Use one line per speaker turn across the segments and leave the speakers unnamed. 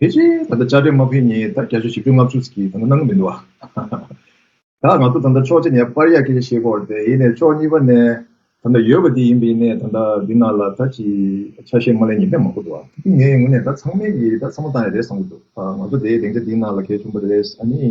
དེ་བཞིན་ད་ལྟ་བཅའ་ཁྲིམས་དམག་འཕེལ་གཉིས་ད་རྒྱ་ཆོས་བཞི་བཅུ་ལྔ་བཅུ་ཟིག་གིས་ད་ནང་གི་མི་འདུག་ཨ། ད་ང་ཚོ་ད་ལྟ་ཕྱོགས་གཅིག་ནས་པར་ཡག་གི་ཞེས་བོར་ཏེ་ཡིན་ནས་ཕྱོགས་གཉིས་པ་ནས་ད་ལྟ་ཡོད་པ་དེ་ཡིན་པ་ཡིན་ནས་ད་ལྟ་འདི་ནང་ལ་ད་ཅི་ཆ་ཤས་མ་ལས་ཉེས་པས་མ་གོ་འདུག་ཨ། དེ་ངའི་ངོ་ནས་ད་ཚང་མས་ཀྱིས་ད་ཚང་མ་བཏང་ཡ་རེད་བསམ་གྱི་འདུག་ཨ། ང་ཚོ་དེའི་སྡེང་ཆ་འདི་ནང་ལ་གལ་ཆུང་པོ་རེད་ཨ་ནི།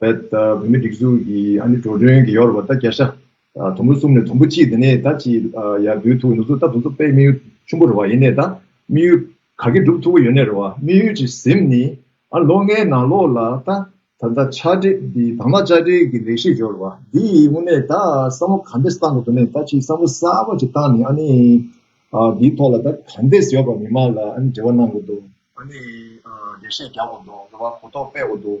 བོད་མི་སྒྲིག་འཛུགས་ཀྱི་ཨ་ནེ་འགྲོ་གྲོན་གྱི་ཡོ་རོབ་པ་ད་རྒྱ་ཤ་དུམ་བུ་གསུམ་ནས་དུམ་བུ་གཅིག་དེ་ནས་ད་ཅི་ཡག་འདུལ་ཐུབ་ནུབ་ཚོད་ད་དུམ་བུ་པའི་དམིགས་ཡུལ་ཆུན་པོ་རེ་བ་ཡིན་ནས་ད་དམིགས་ཡུལ་ག་གེ་འགྲུབ་ཐུབ་པོ་ཡོད་ནས་རེ་བ་དམིགས་ཡུལ་གྱི་གཟིམ་ནི་ཨ་ལོ་ལྔའི་ནང་ལོགས་ལ་ད་ད་ལྟ་ཆ་འདྲེ་འདི་དང་ལ་ལྕགས་འདྲེ་གི་ལེགས་བཤད་འབྱོར་བ་འདི་ཡིས་དངོས་གནས་ད་བསམ་བོ་ག་འདེས་བཏང་དགོས་དོན་ནས་ད་ཅི་བསམ་བོ་གསར་བ་ཅིག་བཏང་ནས་ཨ་ནེ་འདིའི་ཐོག་ལ་ད་ག་འདེས་ཡོ་རོབ་པ་མི་མང་ལ་ཨ་ནེ་འབྲེལ་བ་གནང་དགོས་འདུག་ཨ་ནེ་ལེགས་བཤད་རྒྱག་དགོས་འདུག་རེ་བ་གོ་རྟོགས་སྤེལ་དགོས་འདུག